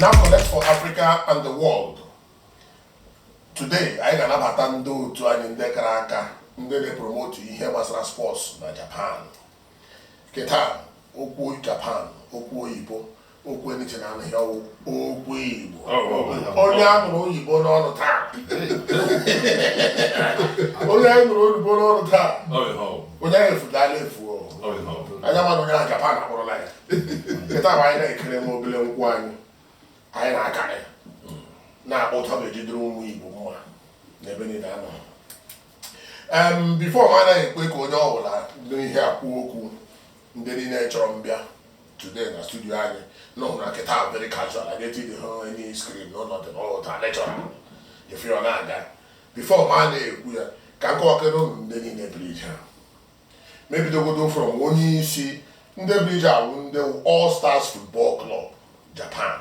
Now connect for Africa and the world. Today, anyị ga-anabata ndị otu anyị ndị kara aka ndị na-epromotu ihe gbasara sports na Japan. Kịta okwu Japan, okwu oyibo, okwu eniche na anụghị ọ wụ okwu Igbo oh, oh, oh, onye a nụrụ oyibo n'ọnụ taa onye anyị nụrụ oyibo n'ọnụ taa onye anyị efudala efu anya mana onye na Japan akpọrọla ya kịta bụ anyị na-ekere nwa obele nkwụ anyị anyị na-aka ya hmm. na-akpọ ụtọ ga-ejidere ụmụ Igbo mma n'ebe niile a nọ before m anaghị ekwe ka onye ọ bụla n'ihe akwụ okwu ndị niile chọrọ m bịa today na studio anyị na ọhụrụ kịta ahụ very casual a ga-eti dị hụ any screen no nothing all natural ife ọ na-aga before m na-ekwu ya ka m kọwakere ụnụ ndị niile bịara nga m ebidogodi from onye isi ndị bịara nga wụ ndị all stars football club japan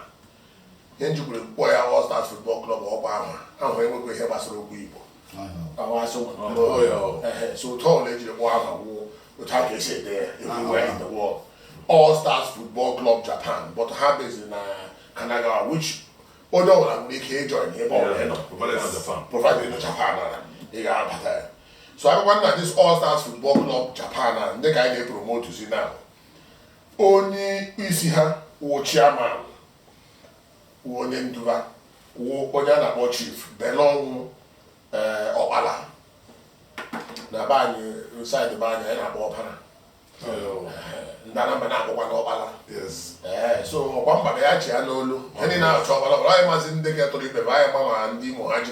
ihe e jikwere kpọọ ya all stars football club ọkwa aha ahụ enwekwa ihe gbasara okwu igbo all stars football club japan but ha based na kanagawa which onye ọbụla nwere ike ịjoin ebe ọbụla ọ nọ provided ọ nọ japan na ị ga-abata ya so ọ wụkwa na this all stars football club japan na ndị ka anyị na-epromotu si na onye isi ha wụ chairman wụ onye ndu ba wụ onye a na-akpọ chief belọnwụ ee ọkpala na be anyị na side be anyị anyị na-akpọ ọpara ndị anambra na-akpọkwanụ ọkpala ee so ọkwa mgbada ya chi ya n'olu ihe niile na-achọ ọkpala ọkpala anyị mazi ndị ga-etụrụ ibe ma anyị ma ma ndị imo ha ji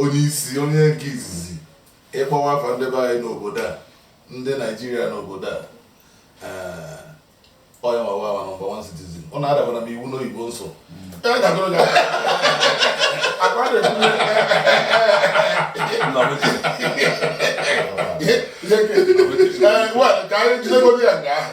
onye isi onye nke izizi ị kpọwa afa ndị be anyị n'obodo a ndị naijiria n'obodo a onye mawa ma number one citizen ọ na-adabara m iwu n'oyibo m sụ ka anyị jidegodi ya nga ahụ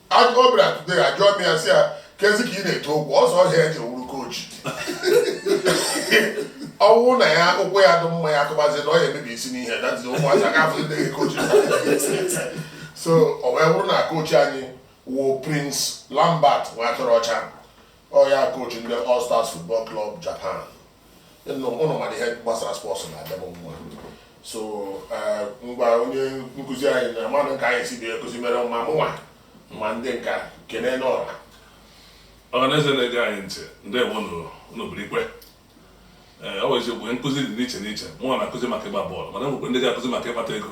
ọ bịara today ajụọ m ya sị ya kezi ka ị na-ete ụkwụ ọzọ ọ ihe a ị ji wụrụ kochi ọ wụrụ na ya ụkwụ ya dị mma ya kụbazi na ọ ya emebi isi n'ihe datizi ụmụazị aka afọ ndị kochi so ọ wee bụrụ na kochi anyị wụ prince lambert nwatụrụọcha ọ ya kochi ndị all stars football club japan ụnụ mara ihe gbasara sports na-adị m mma so eh, ngwa onye nkụzi anyị na mmadụ nke anyị si bịa ekụzi mere ma mụnwa ma ndị nka kenenụ ọra ọhaneze na-ege anyị ntị ndị bụ n'obodo ikwe eh, ọ bụ eziokwu nkụzi dị n'iche n'iche mụnwa na-akụzi maka ịgba bọọlụ mana e nwekwara ndị ga-akụzi maka ịkpata ego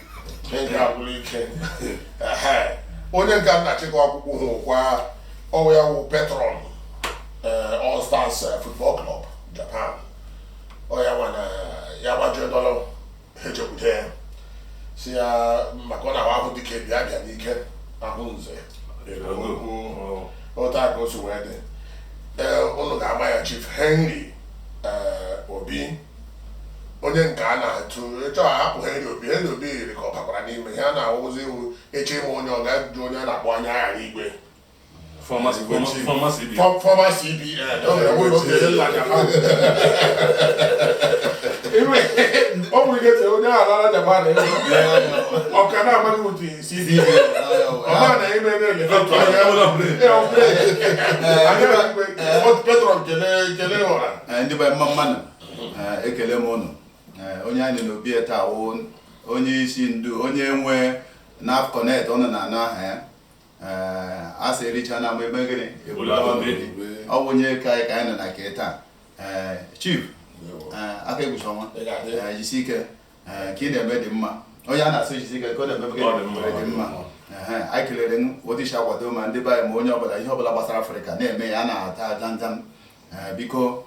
onye nke m na-achịkọ akwụkwọ hụ kwa ọ wụ ya wụ patron eh, All Stars eh, Football Club Japan ọ ya nwa na ya gbajuo dọla ejekwute ya si ya maka ọ na-ahụ ahụ dịka ebi abịa n'ike ahụ nze otu a ka o si wee dị ụnụ eh, ga-ama ya Chief Henry Obi onye nke a na-atụ ịchọ ahapụ Henry Obi Henry Obi yiri ka ọ bakwara n'ime ihe a na-awụzi iwu eche ịma onye ọ ga-ajụ onye a na-akpọ anya aghara igwe former CBN ọ nwere ike onye ala Japan ọka na-amaghị ụdị ndị Igbo mma mma nụ ekele m ụnụ onye anyị nọ n'obi ya taa wụ onye isi ndu onye nwe NAFCONET ụnụ na-anụ aha ya a sị ericha na ama ebe gịnị ọ bụ onye ka anyị ka anyị nọ na nke taa Chief aka ekpuchi ọnwa jisi ike ka ị na-eme dị mma onye a na-asụ jisi ike ka ọ na-eme dị mma anyị kelere otu i si akwado ma ndị be anyị ma onye ọbụla ihe ọbụla gbasara Afrịka na-eme ya na-ata aja nja biko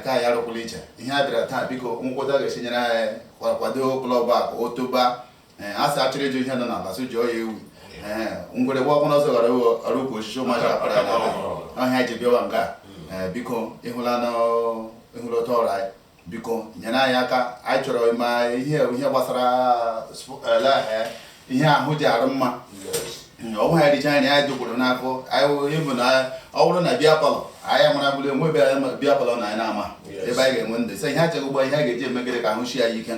ka anyị arụkwala iche ihe a bịara taa biko nkwụta ga-esi nyere anyị kwado klọb a ka o toba a sị achọrọ ịjụ ihe nọ n'ala so jụọ ya ewu ngwere gbaa ọkpụrụ ọsọ ghara ọrụ ukwu osisi ụmụaka akpara ọ ihe a ji bịawa nga biko ịhụla otu ọrụ anyị biko nyere anyị aka anyị chọrọ ịma ihe ihe gbasara eh, ihe ahụ ji arụ mma ọnwụ ha richa anyị anyị dokwuru n'afọ ịbụ na ọ bụrụ na beer parlour anyị mara bụrụ enwe ebe anyị beer parlour na anyị na-ama ebe anyị ga-enwe ndị sị ihe achaghị ụgbọ ihe a ga-eji emegide ka ahụ sie anyị ike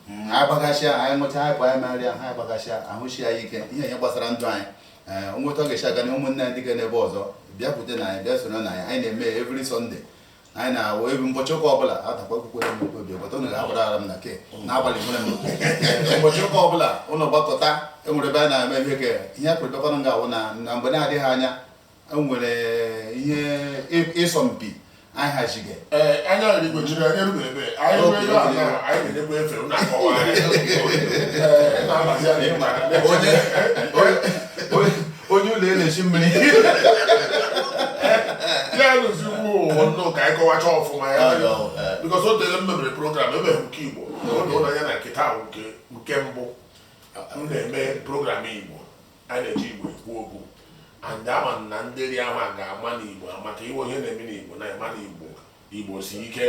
hmm, anyị gbagasịa anyị ṅụcha anyị pụ anyị marịa ha anyị gbagasịa ahụ sie anyị ike ihe ihe gbasara ndụ anyị eh, nweta ọ ga-esi aga na ụmụnne anyị dịga n'ebe ọzọ bịakwute na anyị bịa soro na anyị anyị na-eme every Sunday anyị na-awụ ebe ụbọchị ụka ọbụla atakwa kwukwere m obi ọgbata ụnụ ga-agbara ara m na ke n'abalị nwere m ụbọchị ụka ọbụla ụnụ gbakọta enwere ebe a na-eme ihe ke ihe a kwụrịtakwana ga-awụ na na mgbe na-adịghị anya enwere ihe ịsọ mpi anyị hazighị anya anyị gbochiri anyị erube ebe anyị ruo ebe a na anyị na-edekwa efe ụlọ akọwa anyị na-abazi anyị onye onye ụlọ elechi mmiri ya rụzi ugbu ụwa nnụ ka anyị kọwacha ọfụma ya because o tere m mebere program emeghị nke igbo oge ụlọ ya na nke taa wụ nke nke mbụ m na-eme program igbo a na-eji igbo ekwu okwu and ama m na ndị ri ahụ a ga-ama n'igbo maka iwe ihe na-eme n'igbo na-eme n'igbo igbo si ike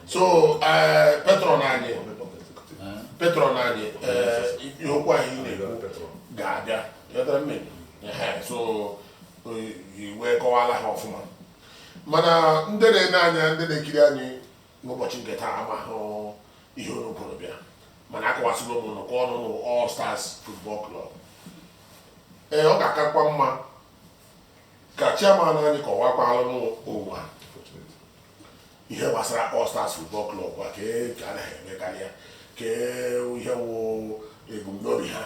so eh, patron anyị patron anyị eh, ihe okwu anyị na-ekwu ga-abịa so wee kọwala ha ọfụma mana ndị na-ene anya ndị na-ekiri anyị n'ụbọchị nke taa amaghị ihe unu kwuru bịa mana akọwasịgo m ụnụ ka ụnụ n'All Stars Football Club ee ọ ga-akakwa mma ka chairman anyị kọwakwalụ ụwa ihe gbasara All Stars Football Club kwa ka e- ka a naghị emekarị ya ka e- ihe wụ ebumnobi ha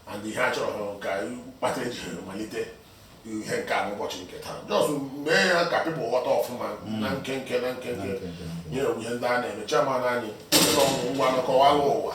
and ihe a chọrọ ha ka kpata e ji ha malite ihe nke a n'ụbọchị nke taa just mee ya ka people ghọta ọfụma na nkenke na nkenke nye ewu ihe ndị a na-eme chairman anyị Ọnwụ ngwa kọwalụ ụwa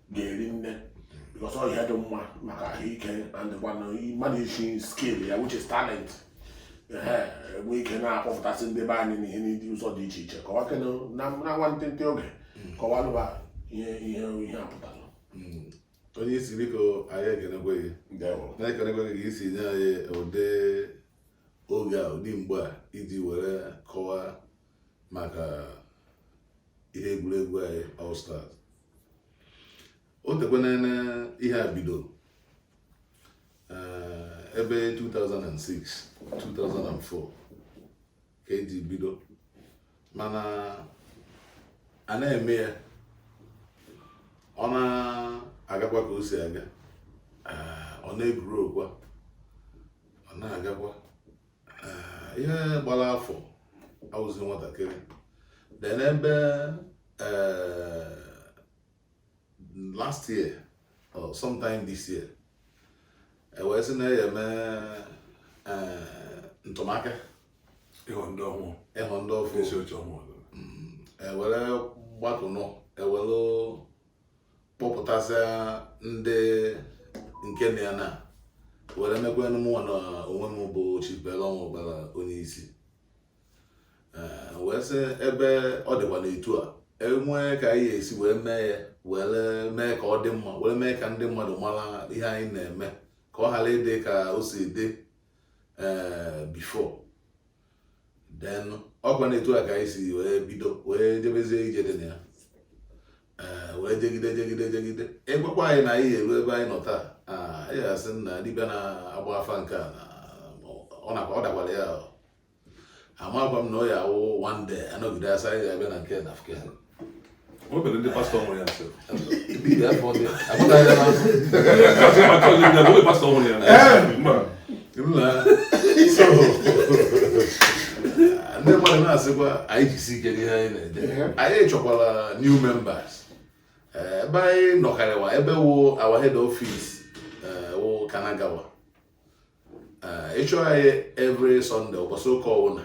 ga-eri nne because ọ ihe dị mma maka ahụike and kwana mmadụ isi skill ya which is talent ehe enwe ike na-akpọpụtasị ndị be anyị n'ihe n'ụdị ụzọ dị iche iche kọwakene na na nwantịntị oge kọwalụ ụwa ihe ihe ihe a pụtara onye isi biko anyị ekenekwe gị ndewo na-ekenekwe gị ka i si nye anyị ụdị oge a ụdị mgbe a iji were kọwaa maka ihe egwuregwu anyị All Stars o tekwana ihe a bido eh, ebe 2006 2004 ka e ji bido mana a na-eme ya ọ na-agakwa ka o si aga eh, ọ na-egwuru okwa ọ na-agakwa ihe gbara afọ awụzi nwatakịrị then ebe eh, last year or sometime this year e wee sị na a ya-eme eh, ntụmaka ịhọ ndị ọhụụ ịhọ ndị ọfụ e were gbatụnụ e were kpọpụtasịa ndị nke na ya na were mekwa mụwa na onwe m bụ Chibelo Ọnwụbara onye isi eh, wee sị ebe ọ dịkwa n'etu a e nwee ka anyị esi wee mee ya were mee ka ọ dị mma were mee ka ndị mmadụ mara ihe anyị na-eme ka ọ ghara ịdị ka o si dị eh, before then ọkwa n'etu a ka anyị si wee bido wee jebezie ije dị na ya eh, wee jegide jegide jegide a gwakwa anyị na anyị ya-eru ebe anyị nọ taa ah, anyị asị na dibịa na-agba afa nke a ọ dakwara ya amakwa m na ọ ya-awụ one day a nọgide a sị anyị ga-abịa na nke na nke nwebere ndị pastọ nwere ya nso pastọ nwere ya ndị mmadụ na-asịkwa anyị jisi ike n'ihe anyị na-eje anyị chọkwara new members ebe anyị nọkarịwa ebe wụ our head office wụ Kanagawa ị chọọ anyị every Sunday ụbọchị ụka ọwụna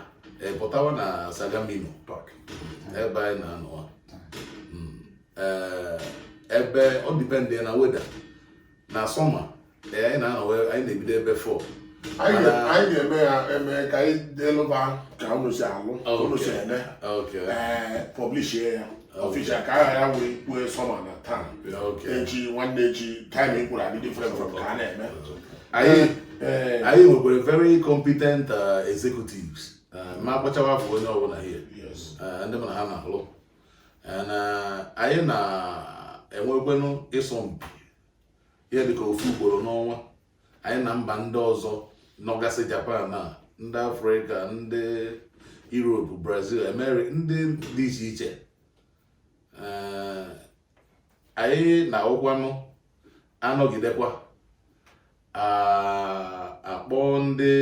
pụtawa na Sagamino Park ebe anyị na-anọ hmm. ebe ọ depend na weather na summer anyị na-anọ anyị na-ebido ebe 4 anyị ga-eme ya eme ka anyị delụba ka unu si alụ unu si eme publish ya official ka aha ya wee kwue summer na taa echi nwanne echi time e kwuru adị different from ka a na-eme anyị eh, eh. nwekwara very competent uh, executives uh, ma akpachawa afọ onye ọbụla ihe uh, ndị mana ha na-alụ anyị na-enwekwenụ ịsọmpi ihe dịka ofu ugboro n'ọnwa anyị na mba ndị ọzọ nọgasị Japan na ndị Afrịka ndị Europe Brazil America ndị dị iche iche eh, anyị na-anọkwanụ anọgidekwa akpọọ ndị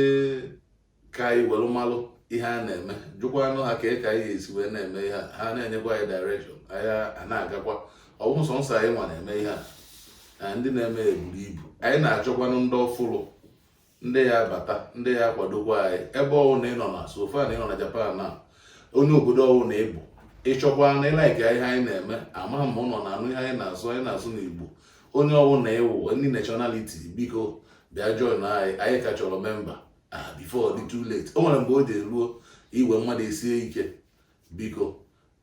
ka anyị were malụ ihe a na-eme jụkwanụ ha ka e ka anyị ga-esi wee na-eme ihe a ha na-enyekwa anyị direction anyị a na-agakwa ọ bụ sọnsọ anyị nwa na-eme ihe a na ndị na-eme eburu ibu anyị na-achọkwanụ ndị ọfụrụ ndị ya-abata ndị ya-akwadokwa anyị ebe ọwụna ị nọ na so far na ị nọ na Japan na onye obodo ọwụna ị bụ ị chọkwa na ị like ihe anyị na-eme ama m ma ụnụ na-anụ ihe anyị na-asụ anyị na-asụ n'Igbo onye ọwụna ị wụ ndị nationality biko bịa join anyị anyị ka chọrọ member ah, before ọ dị too late o nwere mgbe o ji ruo iwe mmadụ esie ike biko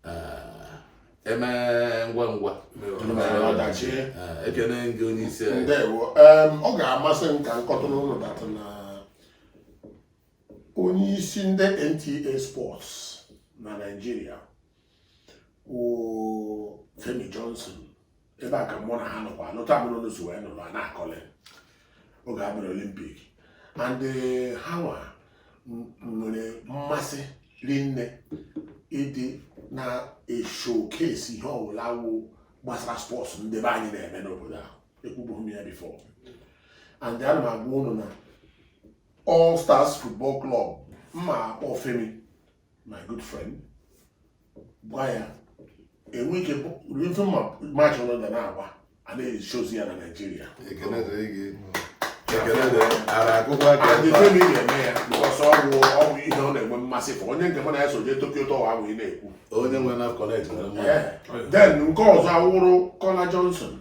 ah, e mee ngwa ngwa ọdachi ah, ekene gị onye isi anyị ndewo Em, ọ ga-amasị m ka m kọtụrụ ụnụ that na onye isi ndị NTA Sports na Nigeria wụ Femi Johnson ebe a ka mụ na ha nọkwa anụta mụ n'ụlọ so wee nọrọ na-akọlị oge a bịara Olympic and eh, ha nwa m- nwere mmasị rinne ịdị na-eshowcase ihe ọbụla wụ gbasara sports ndị be anyị na-eme n'obodo ahụ ekwubughị m ya before and ana m agwa ụnụ na All Stars Football Club m ma-akpọ Femi my good friend gwa ya enwe ike ife match unu ga na-agba a na-eshozi ya na naijiria ekele dịrị gị ekele dịrị ara akụkọ aka anyị ebe a. femi ga-eme ya because ọ wụ ọ wụ ihe ọ na-enwe mmasị for onye nke mụ na ya so jee Tokyo Tower ahụ ị na-ekwu onye nwere naf connect nwere mmadụ Eh, then nke ọzọ awụrụ Kola Johnson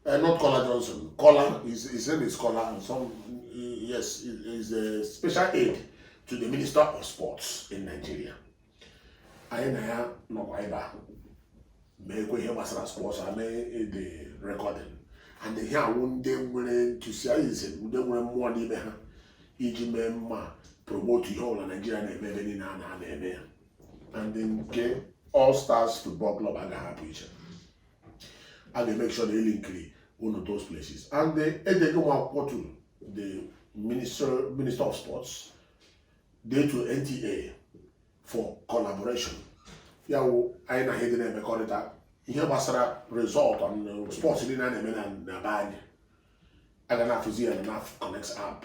Uh, not Kola Johnson. Kola, his, his name is Kola, and some, yes, is a special aide to the Minister of Sports in Nigeria. anyị na ya nọkwa ebe a meekwa ihe gbasara sports a mee the recording and ihe awụ ndị nwere enthusiasm ndị nwere mmụọ n'ime ha iji mee mma promote ihe ọbụla naijiria na-eme ebe niile a na-eme ya and nke all stars football club agaghị apụ iche a ga-emake sure na e linkiri unu those places and edego m akwụkwọ to the minister minister of sports dee to NTA for collaboration ya wụ anyị na ha dị na-emekọrịta ihe gbasara result on uh, sports niile a na-eme na be anyị a ga na-afụzi ya na connect app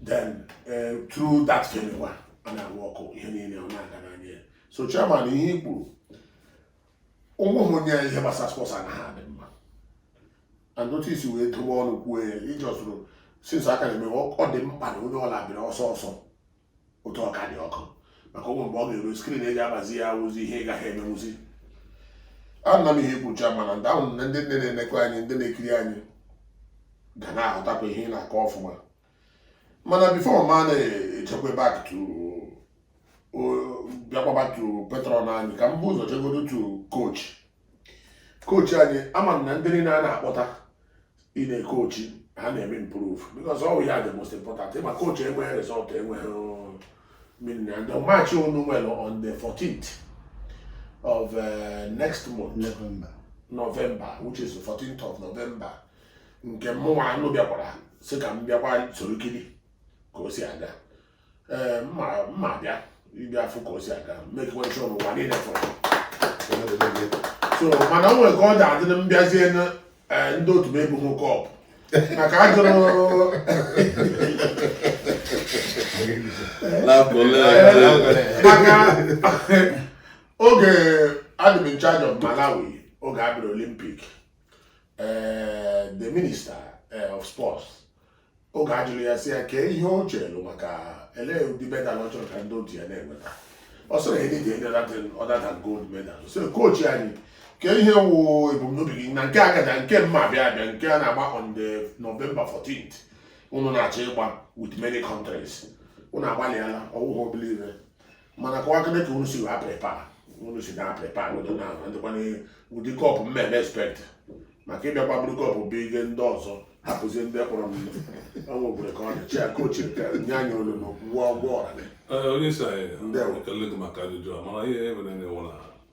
then uh, through that fenwa a na-arụ ọkụ ihe niile ọ na-aga n'anya so chairman ihe i kwuru ụmụ ụmụnne ya ihe gbasara sports anaghị adị mma and otu i si wee dobe ọnụ kwuo ya iji ọsụrụ sinsa aka na-eme ọ dị mkpa na onye ọla bịara ọsọ ọsọ otu ọ ka dị ọkụ maka ọ wụ mgbe ọ ga-eru screen e ji agbazi ya awụzi ihe ị gaghị emenwuzi ana m ihe i kwucha mana ndị ahụ na ndị nine na-enekọ anyị ndị na-ekiri anyị ga na-ahụtakwa ihe ị na-akọ ọfụma mana before ma na-echekwa back to bịakwa back to patron anyị ka m bu ụzọ chegodo to coach coach anyị ama m na ndị niile a na-akpọta ị na-ecoachi ha na-eme improve because ọ wụ ya the most important ma coach enweghị result enweghị meaning and the match unu nwere on the 14th of uh, next month November. November which is the 14th of November nke mụnwa anụ bịakwara sị ka m bịakwa soro kiri ka o si aga ee m ma bịa ịbịa afụ ka o si aga m make sure n'ụwa niile fụrụ so mana o nwere ka ọ ga-adị na m bịazie na e, ndị otu m ebughị cup maka a jụrụ maka oge adị m in charge of Malawi oge a bịara Olympic ee eh, the minister eh, of sports oge a jụrụ ya sị ya kee ihe o chere maka ele ụdị medal ọ chọrọ ka ndị otu ya na-enweta ọ sịrị anything other than gold medal so coach anyị kee ihe wụ ebumnobi gị na nke agaja nke m ma-abịa abịa nke a na-agba on the November 14th unu na-achọ ịgba with many countries unu agbalịala ọ wụghị obere mana kọwakene ka unu si wee prepare unu si na prepare wede na ndịkwa n'ụdị cup m na-eme expect maka ịbịakwa buru cup bụ ihe ndị ọzọ hapụzie ndị kpọrọ m o nwekwere ka ọ dị chief coach nke nye anyị olu na gwụọ ụgwọ ọra gị onye isi anyị Ndewo. ekele gị maka ajụjụ a mana ihe e mere na-ewu na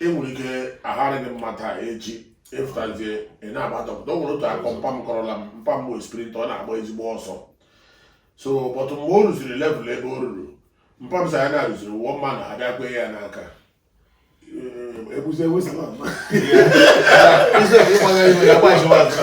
i nwere ike aghara gị mma taa echi ị fụtazie ị na-agba dọkịta o nwere otu akụkọ mpa m kọrọla m mpa m bụ sprinter ọ na-agba ezigbo ọsọ so but mgbe o ruziri level ebe o ruru mpa m sị ya na-eruziri one man abịa kwee ya n'aka ebuzi ewesa na mma Nsogbu ịgbaga iwe ya gbajiwa azụ.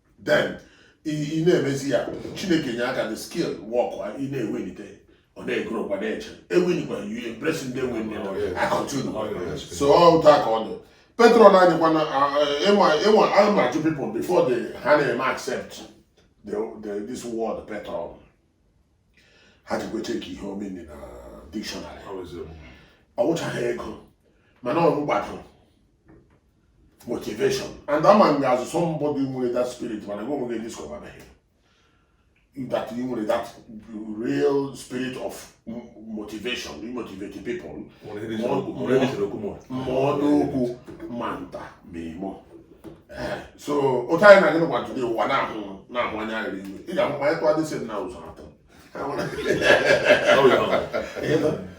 then ị na-emezi ya Chineke enye aka the skill work ị na-ewelite ọ na-egoro kwa na-eche ewinikwa you embrace ndị enwe nne I continue oh, so otu a ka ọ dị patron anyịkwa na ịnwa ama ajụ people before they ha na-eme accept the, the, this word patron ha jikwa check ihe ọ mean na dictionary ọ wụchaghị ego mana ọ gbadoro motivation and ama m gị as somebody nwere that spirit mana gị onwe gị discover na that you nwere that real spirit of motivation you motivate people ma nnukwu ma nta ma imo eh, so otu anyị na-agị n'ụwa jụrụ ụwa na-ahụ na-ahụ anya ghara iwe ị ga-ahụ anyị tụọ dịsị na ụzọ atọ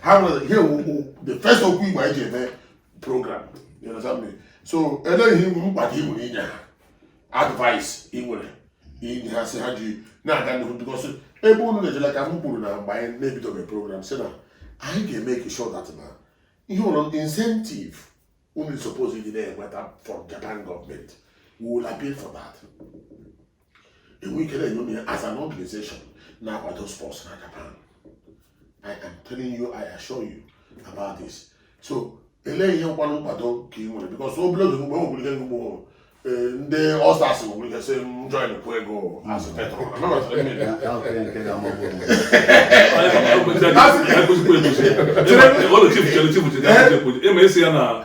ha nwere ihe okwu the first okwu igbo anyị ji eme program you understand me so elee ihe nkwado ka ị nwere inye ha advice ị nwere inye ha sị ha ji na-aga n'ihu because ebe unu na-ejela ka m kwuru na mgbe anyị na-ebidobe program sị na anyị ga-make sure that na ihe ụlọ incentive unu suppose ịdị na-enweta from Japan government we will appeal for that enwe ike na-enye m ya as an organization na-akwado sports na Japan I am telling you I assure you about this so elee ihe nkwanụ nkwado ka ị nwere because obere oge mgbe ọ bụla mgbe eh, ndị All-Stars nwere ike sị m join kwụ ego as patron esi ya na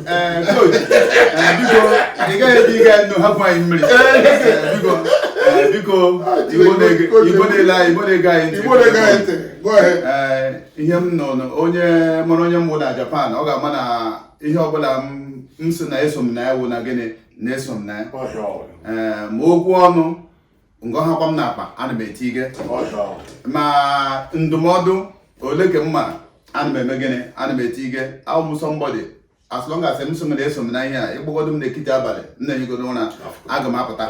ihe m nọ onye mara onye m wụ na Japan ọ ga-ama na ihe ọbụla m sị na eso m na ya wụ na gịnị na eso m na ya ma okwu ọnụ ego hakwa m n'akpa ana m etinye ma ndụmọdụ ole ka m mara ana m eme gịnị ana m etinye awụ m somebody as long as m sị na eso m na ihe a ị kpọgodo m n'ekiti abalị m na-ehigodo ụra aga m apụta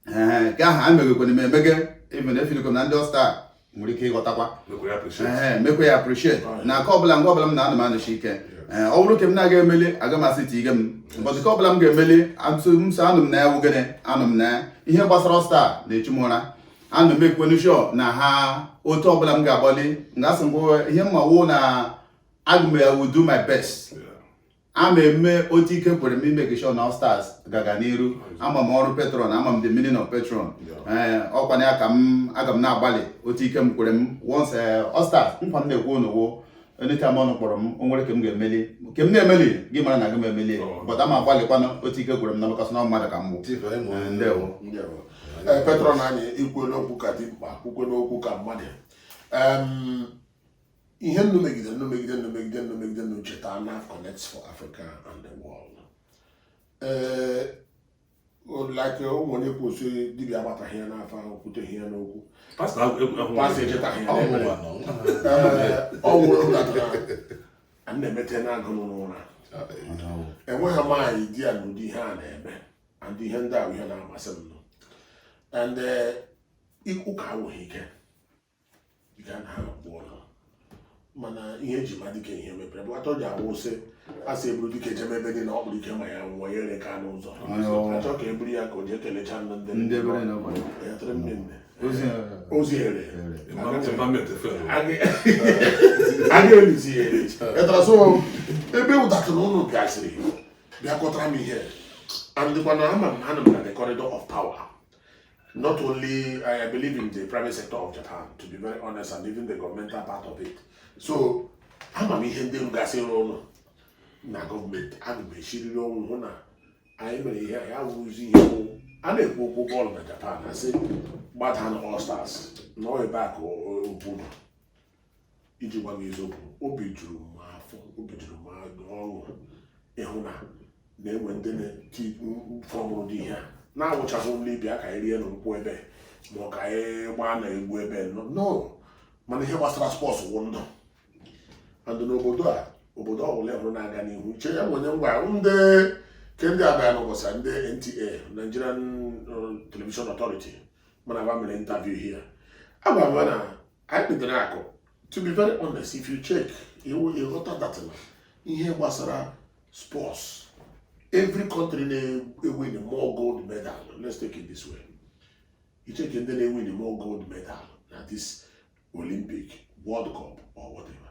ee ka aha a meghekwere m emeghe even efiliko m na ndị All-Stars nwere ike ịghọtakwa mekwe ya appreciate na aka ọbụla ngwa ọbụla m na-anụ m anụchi ike eh, ọ bụrụ nke m na-aga emeli aga m asị ti ige m mbọchị ka ọbụla m ga-emeli so anọ m na ya wugene anọ m na ya ihe gbasara All Stars na-echu m ụra ana m ekwenu sure na ha otu ọbụla m ga-agbalị nga asị ngwa ihe m ma wụ na aga m I will do my best ama eme otu ike kwere m ị make sure na All Stars gaga n'iru ama m ọrụ patron ama m the meaning of patron ee ọkwa na ya ka m aga m na-agbalị otu ike m kwere m once All Stars nkwa m na-ekwe unu wụ anytime unu kpọrọ m o nwere nke m ga-emeli nke m na-emelighị mara na agaghị m emeli but aga m agbalịkwanụ otu ike kwere m na makasị na mmadụ ka m bụ Chief, anyị mụrụ Eh, ndewo. ndewo. Ee, patron anyị i kwuela okwu ka dimkpa kwukwela okwu ka mmadụ Em, ihe unu megide unu cheta NAF connects for Africa and the world ee eh, like eh, ụmụ onye kwu sị dibịa agbataghị ya n'afa o kwuteghị ya n'okwu pastọ echetaghị ya ọ nwụrụ natara a na-emete n'agụ n'ụra enweghị m anyị di ya n'ụdị ihe a na-eme and ihe ndị ahụ ihe na-amasị m nọ and eh, ụka awụghị ike ya na ha kpụọ ha mana ihe e ji ama dike ihe mepere bụ atọ ji awụ sị a sị e buru dike jebe ebe dị na ọ bụrụ ike ma ya nwụọ ya ere ka n'ụzọ a chọọ ka e buru ya ka o jee kelechaa ndị ndị ndị ebere na ọbara ya tụrụ nne nne ozi ya ozi ere ere a ga-elizi ya echi etara so ebe ụdatụrụ unu bịaziri bịakwutara m ihe and ọkwa na ama m anọ m na the corridor of power Not only I believe in the private sector of Japan, to be very honest, and even the governmental part of it. So ama m ihe ndị rugasịrị unu na gọọmenti ana m esiriri ọnwụ hụ na anyị mere ihe ya wụzi ihe wụ a na-ekwu okwu bọọlụ na Japan a sị gbata na All Stars na o nwere backbone iji gwa gị eziokwu obi juru m afọ obi juru m ọṅụ ịhụ na na-enwe ndị na-eti fọmụrụ ụdị ihe a na-awụchaghị nri bịa ka anyị rienụ nkwụ ebe ma ọ ka anyị gbaanụ egwu ebe no mana ihe gbasara sports wụ ndụ and n'obodo a obodo ọbụla ị hụrụ na-aga n'ihu che ya bụ onye ngwa ndị ke ndị abịa n'ụbọchị ndị NTA Nigerian uh, Television Authority mụ na ha mere interview here agwa m na anyị kpedere azụ to be very honest if you check ị ghọta that na ihe gbasara sports every country na-ewin more gold medal let's take it this way you check ndị na-ewin more gold medal na this olympic world cup or whatever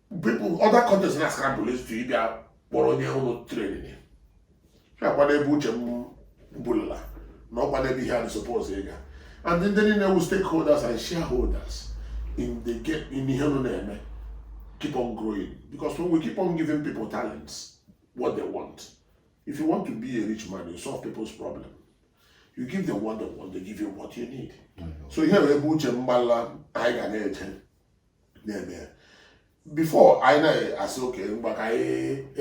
people other countries na scramble to ịbịa kpọrọ onye ụlọ training ya kwado ebe uche m bulala na ọ kwado ebe ihe a dị supposed ịga and ndị niile wu stakeholders and shareholders in the game in ihe anyị na-eme keep on growing because when we keep on giving people talents what they want if you want to be a rich man you solve people's problem you give them what they want they give you what you need so ihe bụ ebe uche m gbala anyị ga na-eje na-eme ya before anyị na-asị okay ngwa ka anyị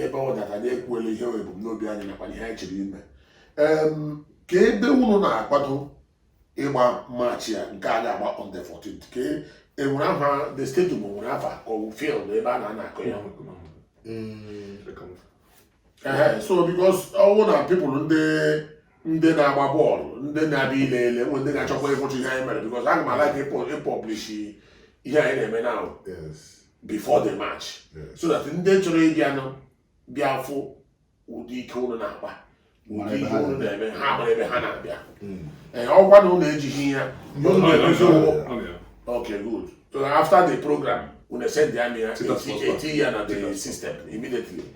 ebe ọ dị ka anyị ekwuela ihe wụ ebumnobi anyị nakwa ihe anyị chọrọ ime kee ebe unu na-akwado ịgba match a nke a ga-agba on the 14th ka enwere aha the stadium nwere afa ka ọ field ebe a na-anọ akụ ya mm. ee so because ọ wụ na people ndị ndị na-agba bọọlụ ndị na-abịa ile ele nwe ndị ga-achọkwa ịfụcha ihe anyị mere because aga m alike ịpublish ihe anyị na-eme now before the match so that ndị chọrọ ịbịanụ bịa fụ ụdị ike ụnụ na-akpa ụdị ihe ụnụ na-eme ha mara ebe ha na-abịa hmm. ee ọkwa na ụnụ ejighị ya okay good so after the program unu send ya na ya eti ya na the system immediately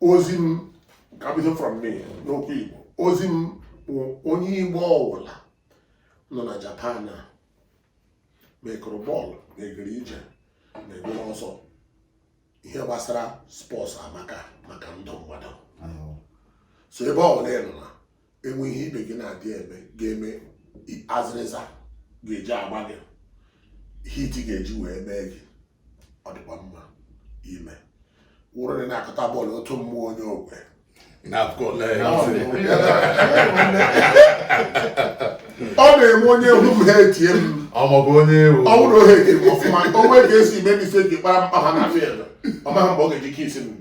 ozi m ka bido from me n'okwu Igbo ozi m bụ onye Igbo ọwụla nọ na Japan a ma ekụrụ bọọlụ ma egere ije ma egere ọsọ ihe gbasara sports amaka maka ndụ mmadụ so ebe ọwụla ị nọ na enwe ihe ibe gị na-adị eme ga-eme azịrịza ga-eji agba gị heat ga-eji wee mee gị ọ dịkwa mma ime ọ wụrụ na ị na-akụta bọọlụ otu mmụọ onye okwe ọ na-eme onye egwu m ha etie m ma ọ bụ onye ewu ọ bụrụ ohe etie m ọfụma onwe ga-esi ime mistake kpara mkpa ha na field ọ maghị mgbe ọ ga-eji kisi m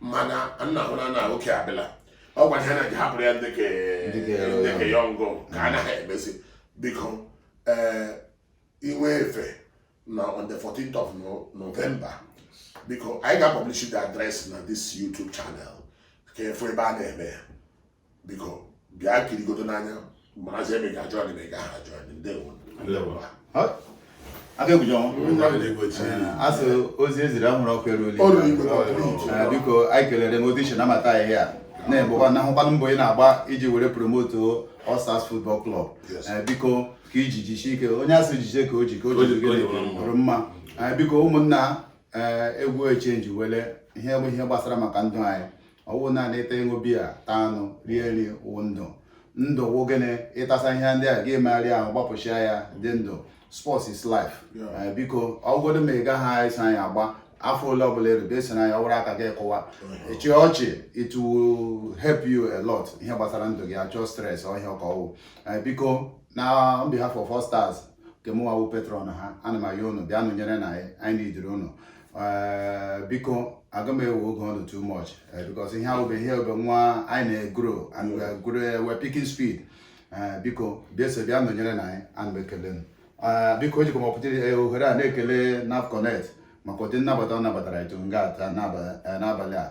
mana nna hụ na na oke abịala ọ gwara ha na ji hapụrụ ya ndị ka young ka ha na-emezi biko ee i nwee efe na on the 14th of November biko anyị ga-publish the address na this YouTube channel ka ị fụ ebe a na-eme ya biko bịa kirigodu n'anya marazie ma ị ga-ajoin anyị ma ị gaghị ajoin anyị ndewo asị ozi eziri anwụrụ ọkụ eruola biko anyị kelere m odishi na amata ihe a na-egbekwa na ahụkwanụ mbọ ị na-agba iji were promote All Stars Football Club biko ka iji jisie ike onye asị jide ka o ji ka o ji dịrị mma biko ụmụnna egwu echangewele ihe bụ ihe gbasara maka ndụ anyị ọwụ naanị ịta ịṅụ biya taa anụ rie nri wụ ndụ ndụ wụ gịnị ịtasa ihe ndị a gị megharịa ahụ gbapụchia ya dị ndụ sports is life eh, biko ọwụgodi ma ị gaghị eso anyị agba afọ ole ọbụla erube eso anyị ọwụrụ aka gị kụwa ịchị ọchị it will help you a lot ihe gbasara ndụ gị achọ stress ọhịa ọka ọwụ eh, biko na on behalf of all stars nke mụnwa wụ patron ha ana m ayọ unu bịa nọnyerenụ anyị anyị nidiri unu eh, biko aga m ewe oge unu too much eh, because ihe ahụ bụ ihe obe nwa anyị na-egrow and we are grow eh, we are picking speed Eh, biko bịa so bịa nọnyerenụ anyị ana m ekele m Eh, biko ejikwa m opportu- eh, ohere a na-ekele NAF Connect maka ụdị nnabata ọ nabatara etu nga a taa n'aba- eh, n'abalị a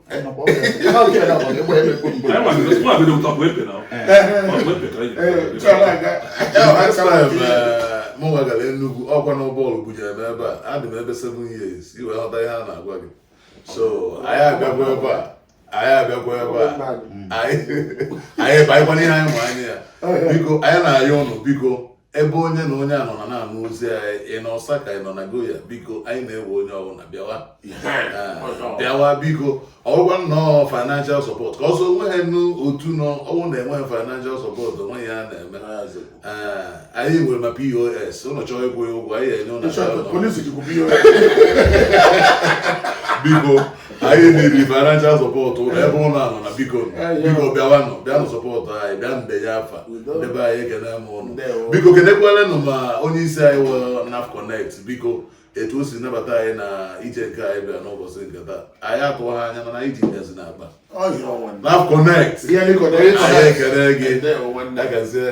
mụnwa gara Enugu ọkwa na bọọlụ bujere m ebe a adị m ebe 7 years ị wee ghọta ihe a na-agwa gị so anyị abịakwa ebe a anyị abịakwa ebe a anyị bakwa n'ihe anyị ma anya ya biko anyị na-ayọ ụnụ biko ebe onye na onye nọ na na-anụ ozi anyị ị nọ Osaka ị nọ Nagoya biko anyị na-ewe onye ọbụla bịawa ah, bịawa biko ọwụkwa nnọọ financial support ka ọsọ onweghịnụ otu nọ ọwụ na enweghị financial support o nwe ihe a na-eme ah, anyị nwere ma POS ụnụ chọọ ịkwụ ya ụgwọ anyị enye ụnụ biko anyị nidiri financial support ụnụ ebe ụnụ nọ na biko biko bịawanụ bịanụ support anyị bịa denye afa ebe anyị ekene m ụnụ biko kenekwalenụ ma onye isi anyị wụ naf connect biko etu o si nabata anyị na ije nke anyị bịa n'ụbọchị nke taa anyị atụọ ha anya mana anyị ji nyazi na akpa naf connect anyị ekene gị agazie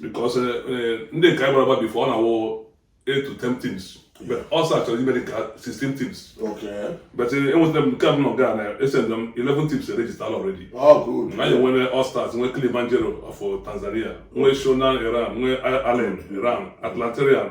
because eh, eh, ndị nke anyị gbara agba before ọ na-awụ 8 to 10 teams but ọsọ achọrọ ime dịka 16 teams Okay. but eh, enwetara m nke a m nọ nga a na esend m 11 teams erejistala already Oh, good. anyị nwere All Stars nwee Kilimanjaro of Tanzania nwee Shonan Iran nwee Allen Iran Atlanterian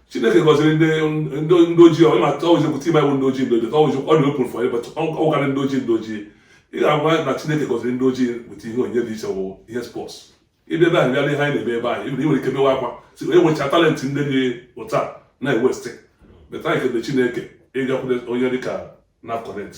chineke gọziri ndị ndị ndị ojii ọ na-atụ ọwụzi ekwu team anyị wụ ndị ojii ndị ojii ọwụzi ọ dị open for everybody ọwụkarị ndị ojii ndị ojii ị ga-agwa na chineke gọziri ndị ojii weta ihe onyinye dị iche wụ ihe sports ịbịa ebe ahụ bịara ihe anyị na-eme ebe ahụ ị nwere ike mewe akwa si onye nwecha talent ndị dị otu a na-ewaste but anyị kele chineke ịgakwute onye dịka NAF Connect